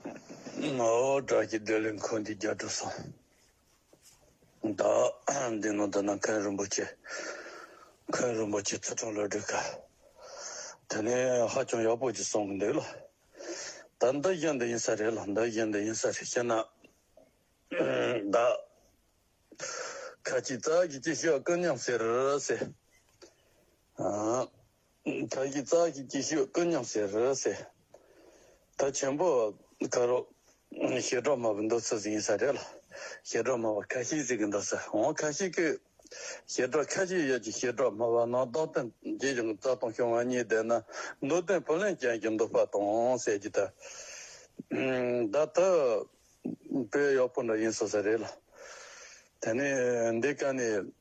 ངའོ། དགྲ་བགེགས་བསྒྲལ་ལས་འཁོར་འདི་རྒྱ་གྲུབ་སོང། བདག་འདི་ནོ་ད་ནང་མཁན་རིན་པོ་ཆེ། མཁན་རིན་པོ་ཆེ་བརྩེ་དྲུང་ལོ་དྲུག་ག། དེ་ནས་ཧ་ཅང་ཡག་པོ་ཅིག་གསུང་གི་འདུག་ལ། ད་འདི་བཞིན་དུ་ཡིན་ས་རེད་ལ་འདི་བཞིན་དུ་ཡིན་ས་རེད་ཤེ་ན། བདག། ཁ་ཅིག་བདག་གིས་ཅི་ཞུ་ཨ་ཀུན་སྙམ་ཟེར། ཟེར། དར་གྱི་རྩ་གི་སྐྱིད་ཤོད་ཀུན་སྙོམས་སེ་རི་སེ། དར་ཆེན་པོ་ཀ་རོ། ཞེ་འགྲོགས་མ་བུ་འདོ་ཚུལ་ཟིག་ཡིན་ས་རེད་ལ། ཞེ་འགྲོགས་མ་བ་ཁ་ཤིག་ཟིག་གི་འདོ་ས་འོང་ཁ་ཤིག་གི། ཞེ་འགྲོགས་ཁ་ཤིག་ཡོད་ཀྱི་ཞེ་འགྲོགས་མ་བ་ནང་རྡོག་སྟོན་རྗེས་ཀྱང་རྩ་སྟོང་ཤོང་བ་གཉིས་བསྡད་ན་འདོ་སྟོན་བུ་ལོན་ཅན་གྱི་འདོ་པ་དང་ཟེར་གྱི་ད། ད་ད། བོད་གཡོག་པོ་འདྲ་ཡིན་ས་ས་རེད་ལ། དེ་ནས་འདི་ཀ་ནས།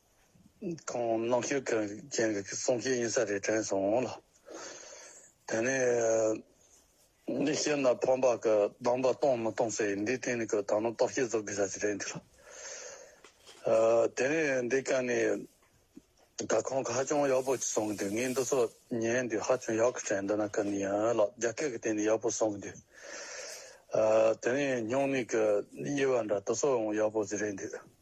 ཁོང་ནག་ཆུ་མཁན་གྱི་གསུང་བཤད་ཡིན་ས་རེད་དྲན་སོང་ལ། དེ་ནས་ནི་ཤེས་ན་ཕམ་པ་གི་གདམས་པ་གཏོང་མི་གཏོང་ས་ཡིན་འདིའི་སྟེང་ནས་གི་ད་ནོ་རྟོག་ཤེས་བཟོ་དགོས་ས་ཞིག་རེད་འདུག་ལ། དེ་ནས་འདི་ག་ནི་ག་ཁོང་གི་ཧ་ཅང་ཡག་པོ་གསུང་གི་འདུག་ངས་འདི་ཚོ་ཉན་དུས་ཧ་ཅང་ཡག་གི་དྲན་འདུག་ན་ག་ནི་ཡིན་ལ་རྒྱ་སྐད་གི་སྟེང་ནས་ཡག་པོ་གསུང་གི་འདུག་དེ་ནས་སྙུང་གནས་གི་དབྱེ་བ་འདྲ་དུ་སོགས་ཡང་ཡག་པོ་ཟིག་རེད་འདུག།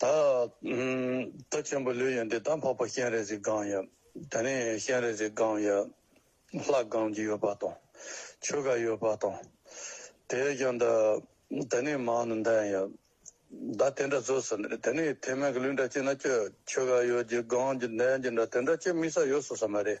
ད་ད་ཆེན་པོ་ལོས་ཡོན་ཏན་དང་འཕགས་པ་གཤེན་རས་གཟིགས་སྒང་ཡབ་ད་ནི་གཤེན་རས་གཟིགས་སྒང་ཡབ་ལྷ་སྒང་གི་ཡོད་པ་དང་ཆོས་ག་ཡོད་པ་དང་དེས་ཀྱང་ད་ད་ནི་མང་ནི་འདན་ཡབ་ད་དེ་འདྲ་ཟོས་ཟིན་ད་ནི་ཐེ་མན་གི་ལུས་འདྲ་སྐྱེས་ན་ཆོས་ཆོས་ག་ཡོད་གི་སྒང་གི་འདན་གྱི་འདྲ་དེ་འདྲ་སྐྱེས་མི་ས་ཡོད་ཟོས་ས་མ་རེད།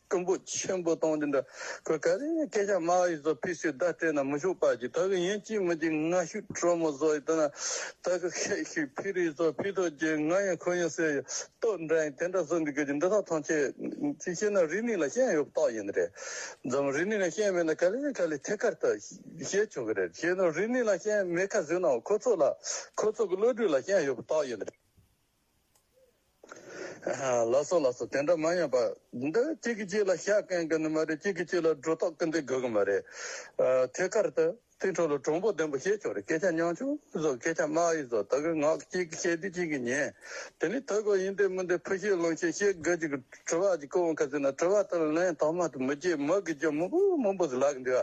ཀུན་པོ་ཆེན་པོ་སྟོང་འདི་འདྲ་ཁོལ་ཁ་ལས་སྐད་ཆ་སྨྲ་བ་ཡིས་ཚོ་ཕི་སི་བདག་སྤྲད་ན་མི་ཆོག་པར་གྱིས་ད་གི་ཡིན་ཅི་མི་གྱིས་ང་ཤུག་གྲོ་མོ་བཟོ་ཡི་དོན་ད་གི་ཤེས་ཤིག་ཕི་རིའི་ཚོ་ཕི་ཐོ་རྒྱལ་ང་ཡིན་ཁོ་ཡིན་སེ་ཡི་ཏོག་འདྲ་ཡིན་དེ་འདྲ་བཟོ་འདི་གི་གྱི་འདི་དག་ཐང་ཆད་ཅི་ཤེས་ན་རི་ནི་ལ་ཤན་ཡོད་ཏོག་ཡིན་རེད་འཛམ་རི་ནི་ལ་ཤན་མེད་ན་ཁ་ལས་ཁ་ལས་ཐད་ཀར་ད་ཤེས་ཆོག་གི་རེད་ཤེས་ན་རི་ནི་ལ་ཤན་མེད་ཁ་བཟོས་ནའོ་ཁོ་ཚོ་ལ་ཁོ་ཚོ་གི་བློ་གྲོས་ལ་ཤན་ཡོད་པ་ཏོག་ཡིན་རེད། ལ་སོ་ལ་སོ་དེ་འདྲ་མ་ཡིན་པར། འདི་གཅིག་གིས་གཅིག་ལ་ཤ་བསྐན་གི་ནི་མ་རེད་གཅིག་གིས་གཅིག་ལ་སྒྲོ་ཐོག་སྐེ་འདེད་དགོས་གི་མ་རེད། ཐད་ཀར་དུ་ཐིག་ཁྲོ་ལོ་གྲོང་པོ་ལྡེམ་པོ་ཞེས་བྱུང་རེད་སྐད་ཆ་ཉང་ཆུང་བཟོ་སྐད་ཆ་དམའ་ཡིག་བཟོ་ད་གི་ངག་གཅིག་གིས་བཤད་དུས་གཅིག་གིས་ཉན། དེ་ནི་ཐོས་གོ་ཡིན་འདེད་མི་འདེད་ཕུ་ཤེས་ལོང་ཤེས་ཤེས་དགོས་ཅིག་དྲི་བ་གཅིག་ཀོ་བོ་ཁ་ཟིན་ན་དྲི་བ་དེར་ལན་ཐོག་མ་དུ་མི་བརྗེད་མི་དགོས་ཀྱི་མི་བུ་མི་འབོ་ཟི་ལག་གི་འདི་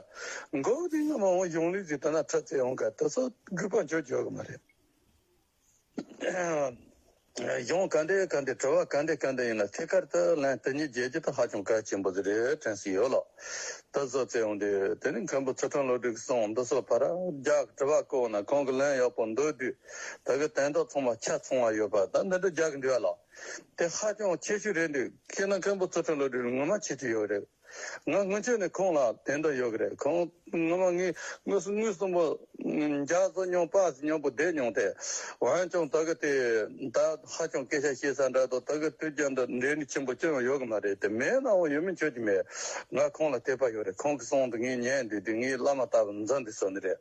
བ། འགོ་བ་ཅིག་ཡང་མ་འོང་གཞུང་ལུགས་ཅིག་དེ་ན་ཁྲི་ཚེ་འོང་ག་དེ་སོགས་དགོས་པ་འཇོག་འཇོག་གི་མ་རེད། གཞུང་ག་འདྲའི་ག་འདྲའི་དྲི་བ་ག་འདྲའི་ག་འདྲ་ཡིན་ལ་ཐད་ཀར་དུ་ལན་དེ་ཉིད་རྒྱལ་སྤྱི་དང་ཧ་ཅང་གལ་ཆེན་པོ་ཟེར་རེད་དྲན་སྲིད་ཡོད་ལགས། ད་གཟོད་བཙལ་འོང་དུས་དེ་རིང་མཁན་པོ་ཚུལ་ཁྲིམས་བློ་གྲོས་ཀྱི་གསུང་འདི་སོགས་བར་རྒྱག་དྲི་བ་བཀོད་ན་གང་གི་ལན་ཡག་པོ་འདུག་དུས་ད་གི་དན་ཏོག་ཚང་མ་ཆ་ཚང་བ་ཡོད་པ་ད་འདི་འདྲ་རྒྱག་གི་འདུག་ལགས། དེ་ཧ་ཅང་ཆེ་ཤོས་རེད་འདུག་ཁྱེད་ནང་མཁན་པོ་ཚུལ་ཁྲིམས་བློ་གྲོས་ངོ་མ་ཆེ་ཆེ་ཡོད་རེད། ང་སྔོན་ཆད་ནས་ཁོང་ལ་དེ་འདྲ་ཡོད་ཀྱི་རེད་ཁོང་སྔོན་མ་ངའི་དངུལ་གསུམ་པོ་རྒྱག་བཟོ་མྱོང་པ་མྱོང་པོ་བསྡད་མྱོང་ཐལ་འོན་ཀྱང་ད་གི་དེ་ད་ཧ་ཅང་སྐད་ཆ་བཤད་ས་འདྲ་འདུག་ད་གི་དུས་རྒྱབ་འདི་འབྲས་ནི་ཆེན་པོ་ཅི་ཡང་ཡོད་ཀྱི་མ་རེད་དེ་མེད་ན་འོ་ཡོད་མིན་ཆོད་ཀྱི་མེད་ང་ཁོང་ལ་དད་པ་ཡོད་རེད་ཁོང་གི་གསུང་འདི་ངས་ཉན་འདུས་དེ་ངའི་བླ་མ་ལྟ་བུ་འཛིན་འདུས་སོ་ནི་རེད།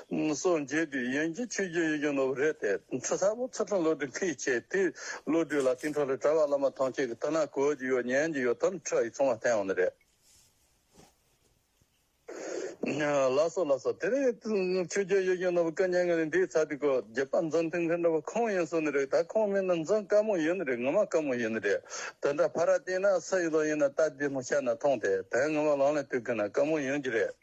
སོགས་བརྗོད་དུས་ཡན་གྱི་ཆོས་རྒྱུན་ཡོད་ཀྱང་ནོར་བུ་རེད་དེ། ཚུར་ལྷ་བུ་ཚུར་ཁྲོམ་བློ་གྲོས་འཁུལ་བྱས་དུས་བློ་གྲོས་ལ་ཏིང་འཕྲོ་ལས་གྲྭ་བ་བླ་མ་ཐམས་ཅད་ཀྱི་ལྟ་ན་གོལ་གྱི་ཡོད་ཉན་གྱི་ཡོད་དམ་ཁྲག་ཡིག་ཚང་མ་བསྟན་འོང་ནི་རེད། ལ་སོགས་ལ་སོགས་དེ་རིང་ཆོས་རྒྱུན་ཡོད་ཀྱང་ནོར་བུ་བཀའ་ཉན་གི་རིང་འདིའི་ཚ་འདི་གོ་རྒྱལ་པ་འཛམ་ཐིང་ཁའི་འདྲ་བ་ཁོང་ཡིན་གསུངས་ནི་རེད་ད་ཁོང་མིན་ན་འཛམ་དཀར་མོ་ཡིན་ནི་རེད་ངོ་མ་དཀར་མོ་ཡིན་ནི་རེད་དེ་འདྲ་ཕ་ར་སྟེང་ན་ས་ཡི་ལོ་ཡིན་ན་རྟ་དེ་མོ་ཤར་ན་མཐོང་དེ་དོན་ངོ་མ་ལང་ལས་དུས་ཀུན་ན་དཀར་མོ་ཡིན་གྱི་རེད།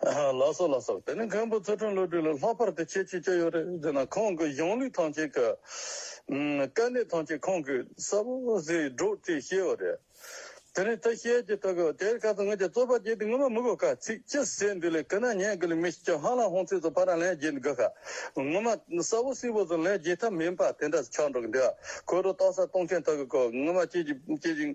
ལ་སོགས་ལ་སོགས་དེ་ནི་མཁན་པོ་ཚུལ་ཁྲིམས་བློ་གྲོས་ལ་ལྷག་པར་དུ་ཁྱད་ཆོས་ཅི་ཡོད་རེད་ཟེར་ན་ཁོང་གི་གཞུང་ལུགས་ཐམས་ཅད་ཀྱི་དཀའ་གནད་ཐམས་ཅད་ཁོང་གིས་གསལ་པོ་ཟིག་སྒྲོག་ཅེས་བཤད་བ་རེད། དེ་ནི་ཐ་ཤལ་གྱི་ཐོག་གི་དེར་ཁ་ཚ་ངོས་ཀྱི་རྩོད་པ་བྱས་ཏེ་ངོ་མ་མི་གོ་ཁ་ཚིག་ཅི་ཟེར་འདི་ལས་ཀི་ན་ཉན་གི་ལས་མི་ཤེས་ཀྱང་ཧང་ལ་ཧོང་ཚིག་ཚོ་ཕ་རང་ལན་བརྒྱད་འདི་གོ་ཁ་ངོ་མ་གསལ་བོ་སིལ་བུ་ཟུར་ལྷའི་རྒྱས་ཐབས་མིན་པ་དེ་འདྲ་ཆགས་འགྲོ་གི་འདུག་གོས་རུ་རྟོག་ས་སྟོང་ཆེན་དག་གི་གོས་ངོ་མ་སྐྱེས་ཀྱི་སྐྱེས་ཀྱི་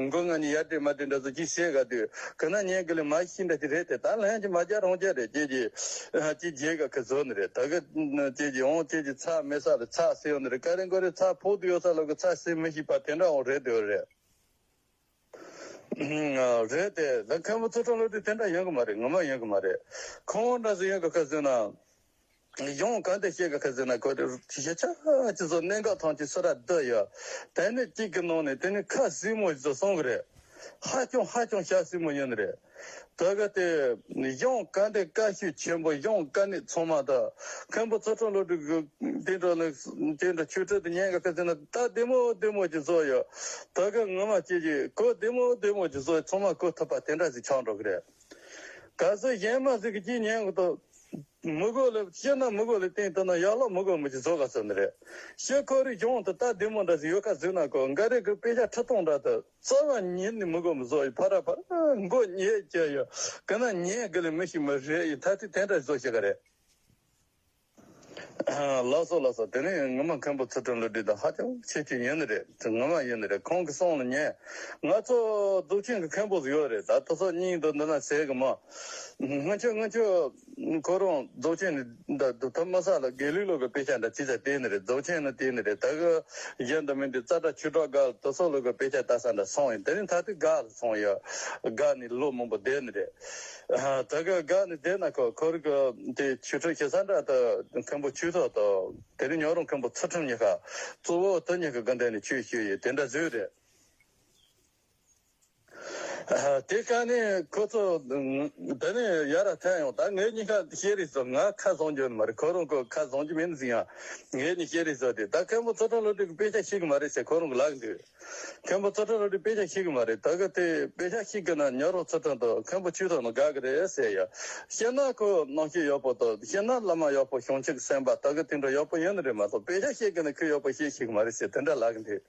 མགོ་ང་ནི་ཡར་དྲིལ་མར་དྲིལ་འདྲ་ཟུག་གིས་བཤད་ག་དུས་གོས་ན་ཉན་གི་ལས་མ་ཤི་འདྲ་ཞིག་རེད་དེ་ད་ལྷན་གྱིས་མ་རྒྱག་རོང་རྒྱག་རེད་ཀྱེ་ཀྱེ། ཀྱེ་རྒྱལ་ག་གི་བཟོ་ནི་རེད་ད་གི། ཀྱེ་ཀྱེ་འོང་ཀྱེ་ཀྱེ་ཚགས་མེད་ས་ལ་ཚགས་སེ་ཡོད་ནི་རེད་ཀ་རེ་མགོ་རེ་ཚགས་ཕུག་ཏུ་ཡོད་ས་ལ་གི་ཚགས་སེ་མི་ཤིག་པ་དེ་འདྲ་འོང་རེད་དེ་འོད་རེད། རེད་དེ། ད་མཁན་པོ་ཚོ་ཁྲོམ་ལོ་དེ་དེ་འདྲ་ཡོང་གི་མ་རེད་ངོ་མ་ཡོང་གི་མ་རེད། ཁོ་བོ་འདྲ་ཚོ་ཡོང་གི་ཁ་ཟོས་ན། ཡོང་གང་དེ་བཤད་གི་ཁ་ཟོས་ན་ཁོ་བོ་དེ་ཤེས་ཆ་གཅིག་བཟོ་གནད་འགག་ཐང་ཅིག་སུ་ར་བསྡད་ཡོད། དེ་ནི་གཅིག་གི་ནང་ནས་དེ་ནི་ཁ་སྲིང་མོ་ཞིག་བཟོ་སོང་གི་རེད། ཧ་ཅང་ཧ་ཅང་ཤ་སྲིང་མོ་ཡོང་ནི་རེད། ད་ག་དེ། གཞུང་བཀའ་འདི་བཀའ་བཞུགས་ཆེན་པོ་གཞུང་བཀའ་ནི་ཚང་མ་དང། མཁན་པོ་ཚོགས་དྲུང་བློ་གྲོས་གུ། དེ་འདྲ་ནི། དེ་འདྲ་ཆོས་ཁྲིད་དུ་ཉན་ག་ཁ་ཟེར་ན་རྟ་བདེ་མོ་བདེ་མོ་ཅིག་བཟོ་ཡོད། ད་ག་ངོ་མ་ཁྱེད་ཀྱིས་གོ་བདེ་མོ་བདེ་མོ་ཅིག་བཟོ་ཚང་མ་གོ་ཐུབ་པ་དེ་འདྲ་ཞིག་ཆགས་འགྲོ་གི་རེད། ག་ཚོད་གཞན་མ་ཟིག་གི་ཅིག་ཉན་གི་འདུག། མི་གོ་ལ་ཤི་ན་མི་གོ་ལ་སྟེང་དུ་ན་ཡག་ལ་མི་གོ་མི་ཅིག་བཟོ་ག་ཟེར་ནི་རེད། ཤི་ཁོ་རེ་གཞུང་དུ་རྟ་བདེ་མོ་འདྲ་ཞིག་ཡོད་ག་ཟིག་ན་གོ་འགའ་རེ་གི་དཔེ་ཆ་ཁྲི་སྟོང་འདྲ་དུ། རྩ་བ་ཉིད་ནི་མི་གོ་མི་བཟོ་ཡི་ཕ་ར་ཕར་མགོ་ཉེས་སྐྱེ་ཡོད་གི་ན་ཉེས་གི་ལས་མི་ཞིག་མི་རེད་ཡི་ཐ་དི་དེ་འདྲ་བཟོ་ཤེས་གི་རེད། ལགས་སོ་ལགས་སོ་དེ་ནི་ངོ་མ་མཁན་པོ་ཚུལ་ཁྲིམས་ལུས་འདི་དང་ཧ་ཅང་ཆེ་ཆེ་ཡིན་ནི་རེད་ངོ་མ་ཡིན་ནི་རེད་ཁོང་གི་གསུང་ལ་ཉན་ང་ཚོ་གདུག་ཅན་གི་མཁན་པོ་ཟིག་ཡོད་རེད་ད་ད་སོ་སྙིང་དོ་འདི་ན་ཟེར་གི་མ། སྔོན་ཆད་སྔོན་ཆད། ཁོ་རང་རྫོགས་ཆེན་ནི་འདི་ལྟར་སྡུག་ཐབས་མ་བསགས་ལ་དགེ་ལུགས་ལོག་གི་དཔེ་ཆ་འདྲ་ཅི་ཟེར་དེ་ནི་རེད་རྫོགས་ཆེན་ནི་དེ་ནི་རེད་ད་གཞན་དུ་མིན་ཏེ་རྩ་ཁྲ་ཆུ་དྲག་ག་ལ་དོ་སོགས་ལོག་གི་དཔེ་ཆ་ད་ས་འདྲ་སོང་ཡིན་དེ་ནི་ད་དུས་ག་ལ་སོང་ཡོད་ག་ནི་ལོ་མང་པོ་འདས་ནི་རེད་ད་ག་ནི་འདས་ན་ཁོ་ཁོར་གི་དེ་ཆུ་ཁྲོད་ཞེ་ས་འདྲ་ད་མཁན་པོ་ཆུ་ཐོག་ཏུ་དེ་ནི་ཉོ་རོང་མཁན་པོ་ཚུལ་ཁྲིམས་གཉིས་ཀ་གཙོ་བོ་དེ་གཉིས་ཀ་གི་འདས་ནི་ཆོས་ཞུ་ཡི་དེ་འདྲ་བཟོས་རེད། དེ་ཁ་ནས་ཁོ་ཚོ་དེ་ནས་ཡར་ར་ཐལ་ཡོང་ད་ངེད་གཉིས་ཁ་ཤེས་རིགས་སོ་ང་ཁ་བཟང་རྒྱུ་ནི་མ་རེད་ཁོ་རང་ཁོ་ཁ་བཟང་རྒྱུ་མིན་ཟིན་ཡང་ངེད་གཉིས་ཤེས་རིགས་སོ་དེ་ད་མཁན་པོ་ཚོ་ཁྲོ་བློ་གྲོས་ཀྱི་དཔེ་ཆ་ཤེས་གི་མ་རེད་ཟེར་ཁོ་རང་གི་ལག་འདུས་མཁན་པོ་ཚོ་ཁྲོ་བློ་གྲོས་དཔེ་ཆ་ཤེས་གི་མ་རེད་ད་གི་དེ་དཔེ་ཆ་ཤེས་གི་ན་ཉོ་རོགས་ཚོ་ཁྲོ་དང་མཁན་པོ་ཆོས་ཐོག་ན་དགའ་གི་རེད་ཟེར་ཡ་ཤེས་ན་ཁོ་ནང་ཤེས་ཡོད་པོ་དང་ཤེས་ན་བླ་མ་ཡོད་པོ་ཤོང་ཆོག་གི་སེམས་པ་ད་གི་དེ་འདྲ་ཡོད་པོ་ཡོད་ནི་རེད་མ་གཏོགས་དཔེ་ཆ་ཤེས་གི་ན་ཁོས་ཡོད་པོ་ཤེས་ཤེས་གི་མ་རེད་ཟེར་དེ་འདྲ་ལག་འདུས།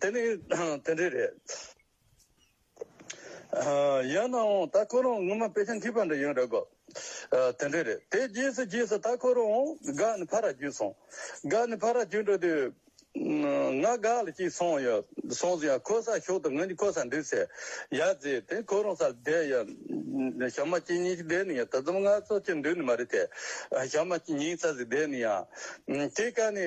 དེ་ནི་དེ་འདྲའི་རེད། ཡང་ན་འོང་ད་ཁོ་རང་སྔོན་མ་པེ་ཅིང་ཁྲིད་པ་འདྲ་ཡོད་རེད་གོ། དེ་འདྲའི་རེད། དེ་རྗེས་སུ་རྗེས་སུ་ད་ཁོ་རང་འོང་དགའ་ནི་ཕ་ར་བརྒྱུད་སོང། དགའ་ནི་ཕ་ར་བརྒྱུད་འགྲོ་དུས། ང་དགའ་ལ་ཅིག་སོང་ཡོད། སོང་ཟིན་ཡང་ཁོ་སར་ཞོག་དུས་ང་ནི་ཁོ་སར་འདུག་ཟེར། ཡར་བརྫིས་དེ་ཁོ་རང་སར་བསྡད་ཡོད། ཞག་མ་གཅིག་གཉིས་ཤིག་བསྡད་ནས་ཡང་ད་རྩོམ་ངར་ཚོགས་ཀྱི་འདུག་ནི་མ་རེད་དེ། ཞག་མ་གཅིག་གཉིས་ཚར་ཟིག་བསྡད་ནས་ཡང། དེའི་སྐབས་ནི།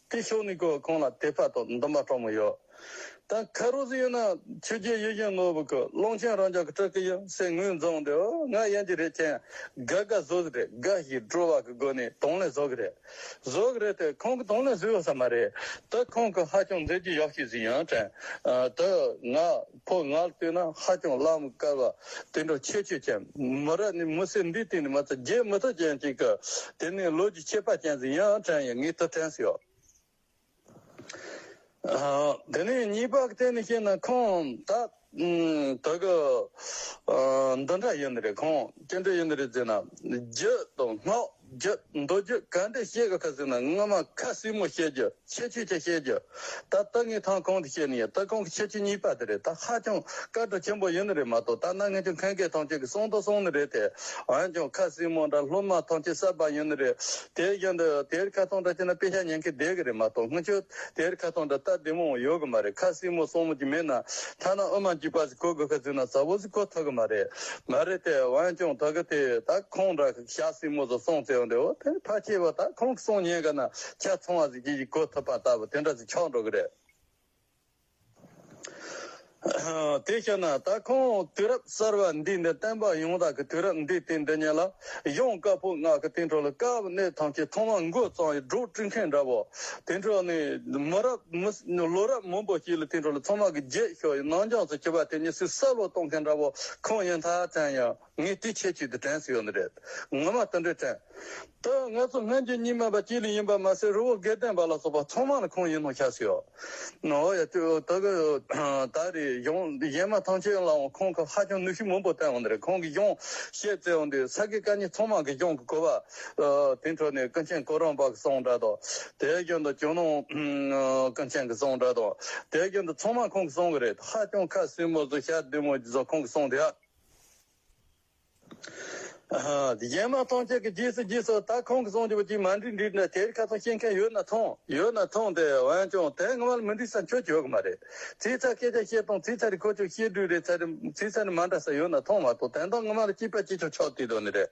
དེ་ཕྱོགས་ནི་ཀོ་ཁོང་ལ་དེ་ཕ་ཐོག་འདུམ་པ་གྲོགས་མོ་ཡོད། ད་ཁ་རུ་ཟི་ཡོད་ན་ཆུ་རྒྱལ་ཡུལ་གཞན་ནོར་བུ་ཁུ་ཀློང་ཆེན་རང་ཅག་གི་ཁྲག་གི་ཡང་སྲས་ངོས་འཛོམས་འདི་ཨོ་ང་ཡན་གྱི་རེད་ཁྱེད་དགའ་དགའ་བཟོ་ཟི་རེད་དགའ་ཞིག་སྤྲོ་བ་གི་སྒོ་ནས་དོང་ལེ་བཟོ་གི་རེད་བཟོ་གི་རེད་དེ་ཁོང་གི་དོང་ལེ་བཟོས་ཡོད་ས་མ་རེད་ད་ཁོང་གི་ཧ་ཅང་མཛེས་རྒྱུ་ཡག་ཞིག་ཟི་ཡང་དྲན་ད་ང་ཕོ་ལྔར་ལྟོས་ན་ཧ་ཅང་བླ་མ་དཀར་བ་དེ་འདྲ་ཁྱད་ཆོས་ཅན་མོ་ར་ནི་མི་སེར་འདིའི་སྟེང་ནས་མ་ཚད་རྒྱའི་མི་ཐ་ཅན་ཅིག་གི་དེ་ནས་ལོ་རྒྱུས་ཆད་པ་ཅན་ཟིག་ཡང་དྲན་ཡོད་ངེས་ཐུག་དྲན་སོ། དེ་ནས་གཉིས་པ་གཏན་ནས་བཤད་ན་ཁོང་ད་དུ་གི་འདི་འདྲ་ཡིན་ནི་རེད་ཁོང་སྐྱེ་འགྲོ་ཡིན་ནི་རེད་ཟེར་ན་རྒྱུ་དང་སྔགས། རྒྱུ། མདོ་རྒྱུད་ག་འདྲས་བཤད་དགོས་ཁ་ཟིག་ན་སྔོན་མ་ཁ་སིག་མོ་བཤད་རྒྱུ་ཁྱད་ཆོས་ཀྱི་བཤད་རྒྱུ། ད་ལྟ་ངས་ཐང་གང་དུ་བཤད་ནི་ཡོད་ད་གང་གི་ཁྱད་ཆོས་གཉིས་པ་དེ་རེད་ད་ཧ་ཅང་དཀའ་གྲོགས་ཆེན་པོ་ཡོད་ནི་རེད་མ་གཏོགས་ད་ནངས་ངས་ཀྱང་མཁན་གྱི་ཐང་ཆེན་གྱི་གསུང་དང་གསུང་ནི་རེད་དེ་འོན་ཀྱང་ཁ་སིག་མོ་འདྲ་སློབ་མ་ཐང་ཆེན་གསར་པ་ཡོད་ནི་རེད་དེའི་རྒྱུན་དུ་དེར་ཁ་ཐང་འདྲ་བྱས་ན་དཔེ་ཆ་ཉན་གི་བསྡད་གི་རེད་མ་གཏོགས་སྔོན་ཆོས་དེར་ཁ་ཐང་འདྲ་ལྟ་བདེ་མོ་འོང་ཡོད་གི་མ་རེད་ཁ་སིག་མོ་སོང་མོ་ཅིག་མེད་ན་ཐ་ན་དབུ་མ་གཅིག་པ་ཟིག་གོ་དགོས་ཁ་ཟིག་ན་ཟ་བོ་ཟིག་གོ་ཐུབ་གི་མ་རེད་མ་རེད་དེ་འོན་ཀྱང་ད་གི་དེ་ད་ཁོང་འདྲ། ཞག་སྲིང་མོ་སོགས་སོང་བཙལ་བར་འདོད། དེ་ནི་ཕ་སྐྱེས་པ་དག་ཁོང་གི་སོང་ཉེས་དགའ་ན་ཆ་ཚང་བ་ཟིག་ཅི་ཞིག་གོ་ཐུབ་པ་ལྟ་བུ་དེ་འདྲ་ཟིག་ཆགས་འགྲོ་གི་རེད། དེ་ཤེས་ན་ད་ཁོང་དུས་རབས་གསར་བ་འདི་ནི་བསྟན་པ་ཡོངས་དག་གི་དུས་རབས་འདི་དེ་འདི་ཉིད་ལ་ཡོངས་དཀར་པོ་ངག་གི་སྟེང་ཁྲོ་ལ་དཀར་བོ་གནས་ཐང་ཆེན་ཐོག་མ་མགོ་གཙང་ཡི་སྒྲོ་དཀྲི་མཁན་འདྲ་བོ། དེ་འཕྲོ་ནི་མི་རབས་ལོ་རབས་མང་པོ་ཞིག་ལ་སྟེང་ཁྲོ་ལ་ཚང་མ་གི་རྗེས་ཤོག་ཡི་ནང་སྦྱངས་སུ་བྱེད་པ་དེ་ཉིད་སུས་བསལ་བོ་གཏོང་མཁན་འདྲ་བོ་ཁོང་ཡིན་ཐག་བཙན་ཡང། ངས་དེ་ཁྱེད་ཅིག་ཏུ་དྲན་ཟིག་ཡོད་ནི་རེད། ངོ་མ་ལྟ་འདྲས་དྲན། ད་ང་ཚོ་སྨན་རྒྱུད་གཉིས་སྨན་པ་གཅིག་ལས་ཡིན་པ་མ་ཟད་རི་བོ་དགེ་ལྡན་པ་ལ་སོགས་པ་ཚང་མ་ནི་ཁོང་ཡིན་ནོ་ཤ་ཟིག་ཨོ། ཨོ་ཡ་ཏི་ཨོ་ད་གི་ད་རེས་གཞུང་གཞན་མ་ཐང་ཆེན་ལའང་ཁོང་གི་ཧ་ཅང་ནུས་ཤུགས་མང་པོ་བསྟན་འོང་ནི་རེད་ཁོང་གིས་གཞུང་བཤད་བསྩལ་འོང་དུས་ས་དགེ་བཀའ་རྙིང་ཚང་མ་གི་གཞུང་གི་གོ་བ། དེའི་འཕྲོ་ནས་ཀུན་མཁྱེན་སྐུ་རིང་པ་གི་གསུང་སྒྲ་དང། དེའི་རྒྱུན་དུ་ཇོ་ནང་ཀུན་མཁྱེན་གི་གསུང་སྒྲ་དང། དེའི་རྒྱུན་དུ་ཚང་མ་ཁོང་གི་གསུང་གི་རེད་ཧ་ཅང་ཁ་སིམ་མོ་བཟོ་ཞག་བདུན་མོ་བཟོ་ཁོང་གི་གསུང་དེ་ཧ། གཞན་མ་ཐོངས་ཁྱེད་ཀྱི་རྗེས་སུ་རྗེས་སུ་ད་ཁོང་གི་གསུངས་རྒྱུ་བ་ཅིག་མ་འགྲིག་འགྲིག་ན་དེར་ཁ་ཚོན་བཤད་མཁན་ཡོད་ན་ཐོངས་ཡོད་ན་ཐོངས་ཏེ་འོན་ཀྱང་དེ་སྔ་མ་ལ་མི་འགྲིག་ས་ཁྱོད་ཡོད་གི་མ་རེད་ཚིག་ཚག་སྐད་ཆ་བཤད་སྟངས་ཚིག་ཚག་རེ་ཁོ་ཅོག་བཤད་དུས་རེ་ཚ་རེ་ཚིག་ཚག་རེ་མ་འདྲ་ས་ཡོད་ན་ཐོངས་མ་ཐོངས་དེ་འདྲ་སྔ་མ་ལ་སྐྱིད་པ་སྐྱིད་ཆོག་ཆོག་དུས་དོན་ནི་རེད།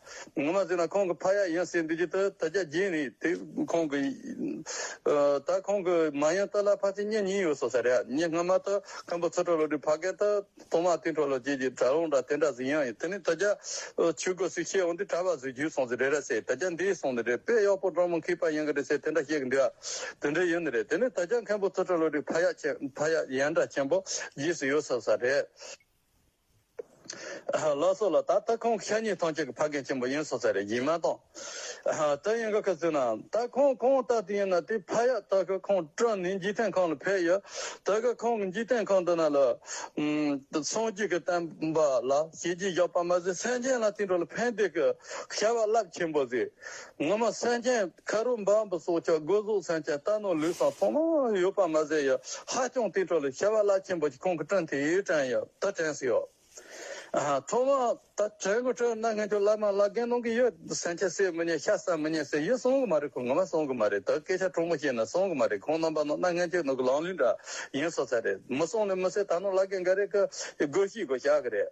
ངོ་མ་ཟེར་ན་ཁོང་གི་ཕ་ཡག་ཡིན་ཟེར་འདོད་ཀྱི་འདུག་ད་རྒྱ་རྒྱན་རེད་དེ་ཁོང་གི། ད་ཁོང་གི་མ་ཡང་ཏཱ་ལ་ཕ་ཚེ་སྙེ་གཉིས་ཡོད་སོང་ཟེར་ཡ་སྙེ་སྔ་མ་ད་ཁམ་པོ་ཚོ་གྲོ་ལོ་དྲི་ཕ་གན་ད་ཐོག་མ་ཏིན་གྲོ་ལོ་བཅས་ཀྱི་གྲ་ལོང་འདྲ་དེ་འདྲ་ཟིན་ཡང་ཡིན་དེ་ནས་ད་རྒྱ་ཆོས་གོས་སུ་ཤེས་འོང་དུས་གྲ་བ་བཟོས་རྒྱུ་སོང་ཟེར་རེད་ར་ཟེར་ད་རྒྱ་འདི་སོང་ནི་རེད་དཔེ་གཡོག་པོ་འབྲོང་མོ་འཁིས་པ་ཡིན་གི་རེད་ཟེར་དེ་འདྲ་བཤད་གི་འདུག་དེ་འདྲ་ཡོད་ནི་རེད་དེ་ནས་ད་རྒྱ་ཁམ་པོ་ཚོ་གྲོ་ལོ་དྲི་ཕ་ཡག་ཡན་འདྲ་ཆེན་པོ་རྗེས་སུ་ཡོད་སོང་ཟེར་རེད། བླ་སྲོག་ལ་ད་ལྟ་ཁོང་ཤ་ཉེ་ཐང་ཅན་གྱི་ཕ་རྒན་ཆེན་པོ་ཡིན་བསོད་ཚལ་རེད་ཡིན་མ་གཏོགས། ད་ཡིན་ག་ག་ཚོད་ན་ད་ཁོང་གང་ལྟ་དུས་ཡིན་ན་དེ་ཕ་ཡག་ད་གི་ཁོང་སྤྲོ་ནས་འཇིག་རྟེན་ཁང་ལ་ཕེབས་ཡོད་ད་གི་ཁོང་གི་འཇིག་རྟེན་ཁང་འདི་ན་ལ་སངས་རྒྱས་ཀྱི་བསྟན་པ་ལ་ཞེ་ཅིག་བཞག་པ་མ་ཟད་སེམས་ཅན་ལ་དེ་འགྲོ་ལ་ཕན་བདེ་གི་བྱ་བ་རླབས་ཆེན་པོ་ཟིག་སྔོན་མ་སེང་ལྕེ་ཁ་རུ་འབབ་འབུ་སོགས་ཆག་སྒོ་གཟུགས་སེང་ལྕེ་རྟ་ནོར་ལུས་སམ་ཚོང་ལམ་ལ་ཡོད་པར་མ་ཟད་ཡོད་ཧ་ཅང་དུས་འཕྲོ་ལ་ཤྭ་བ་བླ་ཆེན་པོ་ཆེ་ཁོང་གི་བཀྲིན་དེ་ཡིས་དྲན་ཡོད་ད་དྲན་སྲིད་ཡོད། ཐོག་མར་ད་དྲན་དགོས་དྲན་ན་ངས་ཁྱོད་བླ་མ་བླ་རྒན་གནང་གི་ཡོད་སེང་ལྕེ་བསད་མི་ཉན་ཤ་བསད་མི་ཉན་ཟེར་ཡོད་གསུང་གི་མ་རེད་ཁོང་ངོ་མ་གསུང་གི་མ་རེད་ད་སྐད་ཆ་དྲང་པོ་བཤད་ན་གསུང་གི་མ་རེད་ཁོང་རྣམ་པ་ནང་ན་ངན་ཇུས་ནང་གི་ལང་ལུས་འདྲ་ཡིན་བསོད་ཚལ་རེད་མི་གསུང་ནི་མི་བསད་ད་ནོར་བླ་རྒན་འགའ་རེ་ཁ་སྒོ་ཤི་དགོས་བྱ་གི་རེད།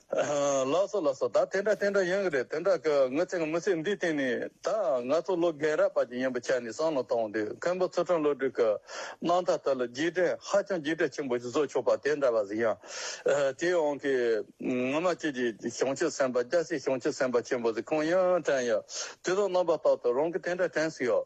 ལགས་སོ་ལགས་སོ་ད་དེ་འདྲ་དེ་འདྲ་ཡོང་གི་རེད་དེ་འདྲ་གི་ངོ་ཚེ་ངོ་ཚེ་འདི་དེ་ནི་ད་ང་ཚོ་ལོ་རྒན་རབས་པ་ཅིག་ཡིན་པ་ཆ་ནས་བསམ་བློ་གཏོང་དུས་མཁན་པོ་ཚུར་ཁྲོམ་བློ་གྲོས་ཀྱི་གནང་ཐབས་ལྟར་ལ་རྒྱས་འབྲིང་ཧ་ཅང་རྒྱས་འབྲིང་ཆེན་པོ་ཞིག་བཟོ་ཆོག་པ་དེ་འདྲ་བ་ཟིག་ཡང། དེ་ཡོང་གི་ངོ་མ་ཁྱེད་ཀྱི་གཞུང་ཆེན་སེམས་པ་སྐྱ་སེར་གཞུང་ཆེན་སེམས་པ་ཆེན་པོ་ཟིག་ཁོང་ཡང་དྲན་ཡོད་དེ་ཚོ་རྣམ་པ་རྟག་ཏུ་རང་གི་དེ་འདྲ་དྲན་ཟིག་ཡོད།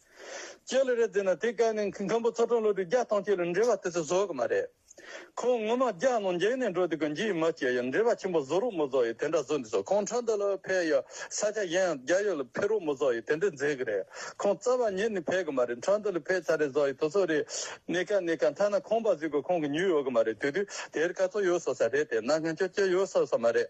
ཅོ་ལེ་རེད་ཟེར་ན་དེ་སྐད་ནི་མཁན་པོ་ཚོགས་དྲུང་བློ་གྲོས་རྒྱ་སྟོང་སྐྱིད་ལ་འབྲེལ་བ་དེ་ཚོ་བཟོ་གི་མ་རེད། ཁོང་ངོ་མ་རྒྱ་ནང་འགྱེལ་ནས་འགྲོ་འདུག་གི་འགྱིག་མ་སྐྱེལ་ཡ་འབྲེལ་བ་ཆེན་པོ་བཟོ་རོགས་མོ་བཟོ་ཡི་དེ་འདྲ་བཟོ་འདི་བཟོ་ཁོང་ཁྲ་འདི་ལ་ཕེབས་ཡ་ས་ཆ་གཞན་ཡང་རྒྱ་ཡོད་ལ་ཕེབས་རོགས་མོ་བཟོ་ཡི་དེ་འདྲ་མཛད་གི་རེད་ཁོང་རྩ་བ་ཉིད་ནས་ཕེབས་གི་མ་རེད་ཁྲ་འདི་ལ་ཕེབས་ཚར་རེད་བཟོ་ཡི་དོ་ཚོ་རེད་གནས་ཀ་གནས་ཀ་མཐའ་ན་ཁོང་པ་ཟིག་གོ་ཁོང་གི་ཉུལ་ཡོད་གི་མ་རེད་དུས་དུས་དེར་ག་ཚོད་ཡོད་བཟོ་ས་རེད་དེ་ན་ངན་ཅོ་ཅོ་ཡོད་བཟོ་ས་མ་རེད།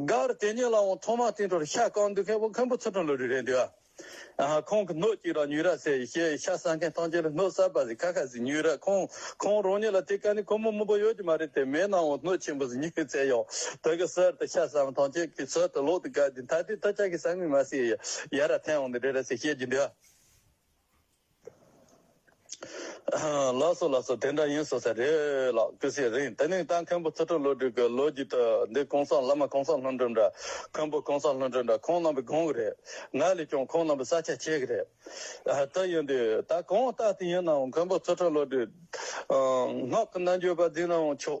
སྒར་དེ་ཉིད་ལའང་ཐོག་མར་སྟེང་དྲོར་ཤ་བཀང་འདུག་མཁན་བོ་མཁན་པོ་ཚུར་དྲངས་ལོ་རི་རེད་འདུག་ཨ། ཁོང་གི་སྣོད་ཅིག་ལ་ཉུལ་ར་ཟེར་ཞེས་ཤ་བཟའ་མཁན་ཐམས་ཅད་ལ་སྣོད་གསར་པ་ཟིག་ཁ་ཁ་ཟིག་ཉུལ་ར་ཁོང་ཁོང་རང་ཉིད་ལ་དེ་ག་ནས་ཁོ་མོ་མང་པོ་ཡོད་ཀྱི་མ་རེད་དེ་མེད་ནའང་སྣོད་ཆེན་པོ་ཟིག་ཉུལ་བཙལ་ཡོང་དོ་གི་ཟེར་ཏེ་ཤ་བཟའ་མ་ཐམས་ཅད་ཀྱི་ཚུལ་དུ་ལོག་ཏུ་བཀར་ཏེ་ད་ལྟའི་ད་ཆ་གི་ཟ་ངུས་མ་ཟོས་ཡ་ར་ཐལ་འོང་ནི་རེད་ར་ཟེར་བཤད་ཀྱི་འདུག། ལགས་སོ་ལགས་སོ་དེ་འདྲ་ཡིན་ཟེར་ས་རེད་ལགས་སྐུ་སྲས་རིང་དེ་ནས་ད་མཁན་པོ་ཚུལ་ཁྲིམས་བློ་གྲོས་ཀྱི་ལོ་རྒྱུས་དུ་འདི་གོང་ས་བླ་མ་གོང་ས་ལྷུན་གྲུབ་འདྲ་མཁན་པོ་གོང་ས་ལྷུན་གྲུབ་འདྲ་ཁོང་རྣམ་པས་དགོངས་གི་རེད་ང་ལས་ཀྱང་ཁོང་རྣམ་པས་ས་ཆ་ཆེ་གི་རེད་དེ་ཡིན་དུས་ད་གང་ལྟ་དེ་ཡིན་ནའང་མཁན་པོ་ཚུལ་ཁྲིམས་བློ་གྲོས་སྔགས་ཀྱི་རྣལ་འབྱོར་པ་འཛིན་ནའང་ཆོག།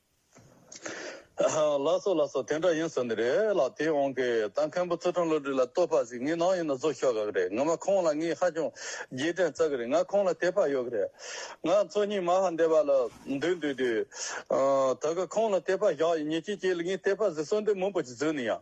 ལ་སོ་ལ་སོ་དེ་འདྲ་ཡིན་ཟེར་ནི་རེད་ལ་དེ་འོང་གི་ད་མཁན་པོ་ཙོ་ཁྲོན་བློ་གྲོས་ལ་བསྟོད་པ་ཞིག་ངའི་ནང་ཡིན་ན་བཟོ་ཤོག་ག་གི་རེད་ངོ་མ་ཁོང་ལ་ངས་ཧ་ཅང་རྗེས་དྲན་རྩ་གི་རེད་ང་ཁོང་ལ་དད་པ་ཡོད་གི་རེད་ང་ཚོ་གཉིས་མ་ཧ་འདས་པ་ལ་འདུས་འདུས་འདུས་ད་གི་ཁོང་ལ་དད་པ་བཞག་ཡིན་ཉེ་སྐྱིད་སྐྱིད་ལ་ངས་དད་པ་ཟིག་གསོལ་འདེབས་མང་པོ་ཞིག་བཟོས་ནི་ཡང།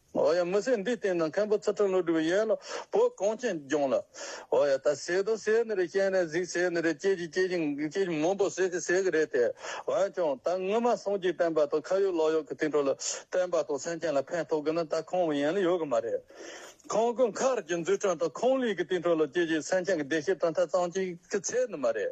འོ་ཡ་མི་སེར་འདིའི་སྟེང་ན་མཁན་པོ་ཚུལ་ཁྲིམས་ཀླུ་སྒྲུབ་ཡན་ལག་བོད་གངས་ཅན་ལྗོངས་ལ། འོ་ཡ་ད་ཟས་དུག་ཟས་ནི་རེད་སྐྱེན་ནས་གཟིགས་ཟས་ནི་རེད་སྐྱེས་ཀྱི་སྐྱེས་ཀྱི་སྐྱེས་ཀྱི་མུན་པོ་ཟས་ཀྱི་ཟས་ཀྱི་རེད་དེ། འོན་ཀྱང་ད་སྔོན་མ་སོང་རྗེས་བསྟན་པ་དང་ཁ་ཡོད་ལག་ཡོད་ཀྱི་དེང་དྲོ་ལ་བསྟན་པ་དང་སེམས་ཅན་ལ་ཕན་ཐོག་གི་ན་ད་ཁོང་ཡན་ལ་ཡོད་གི་མ་རེད། ཁོང་གི་མཁར་གྱི་འཛུགས་སྐྲུན་དང་ཁོང་ལུས་ཀྱི་དེང་དྲོ་ལ་སྐྱེས་ཀྱི་སེམས་ཅན་གྱི་བདེ་སྐྱིད་དང་ཐེ་ཚོམ་གྱི་ཚད་ནི་མ་རེད།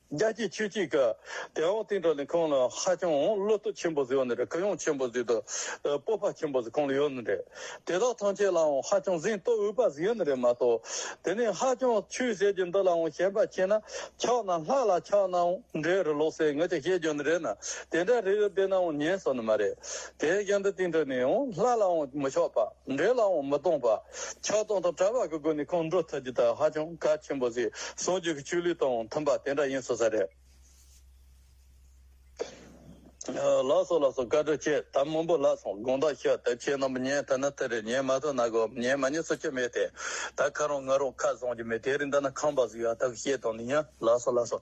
རྒྱལ་གཅེས་ཆོས་གཅེས་ཀྱི་དད་འོག་བརྟན་བགྲོ་གླིང་ཁང་ལ་ཧ་ཅང་བློ་སྟོབས་ཆེན་པོ་ཟེར་བ་ནི་རེད་གུ་ཡངས་ཆེན་པོ་ཟེར་དུས་སྤོབས་པ་ཆེན་པོ་ཟེར་ཁོང་ལ་ཡོད་ནི་རེད། དེ་དག་ཐམས་ཅད་ལའང་ཧ་ཅང་གཟེངས་བསྟོད་འོས་པ་ཟེར་ཡོད་ནི་རེད་མ་གཏོགས། དེ་ནས་ཧ་ཅང་ཆོས་ཟེར་གྱི་འདི་ལའང་ཞེན་པ་ཆེ་ན་ཆགས་ན་སྔགས་ལ་ཆགས་ནའང་འདྲའི་རུ་ལོག་སའི་ངུ་ཅི་བཤད་རྒྱུ་ནི་རེད་ན་དེ་འདྲ་རེ་ཡོད་པས་ནའང་ཉན་སོ་ནི་མ་རེད། དེའི་རྐྱེན་དུ་བརྟན་བགྲོ་ནས་ཡང་ལྷ་ལའང་མི་ཕྱོགས་པ། འབྲས་ལའང་མི་སྟོང་པ། ཆགས་སྡང་དང་བྲལ་བ་གི་སྒོ་ནས་ཁོང་འགྲོ་ཐུབ་རྒྱུ་དག་ཧ་ཅང་གལ་ཆེན་པོ་ཟིག་ཟུང་རྒྱུ་གི་ཆུ་ལུད་དང་མཐུན་པ་དེ་འདྲ་ཡིན་སོང་ས་རེད། ལགས་སོ་ལགས་སོ་བཀའ་དྲིན་ཆེ་ད་མུན་པོ་ལགས་སོང་དགོངས་དག་ཞུ་དེབ་ཆེན་རྣམས་ཉན་ཐུབ་ན་ཐུབ་རེད་ཉན་མ་ཐུབ་ན་གོ་ཉན་མ་ཉན་སོ་ཆོད་མེད་དེ་ད་ཁ་རང་ང་རང་ཁ་བཟང་རྒྱུ་མེད་དེ་རིང་འདི་ན་ཁང་པ་ཟིག་ཡོད་ད་གི་བཤད་དང་ནི་ཡིན་ལགས་སོ་ལགས་སོ།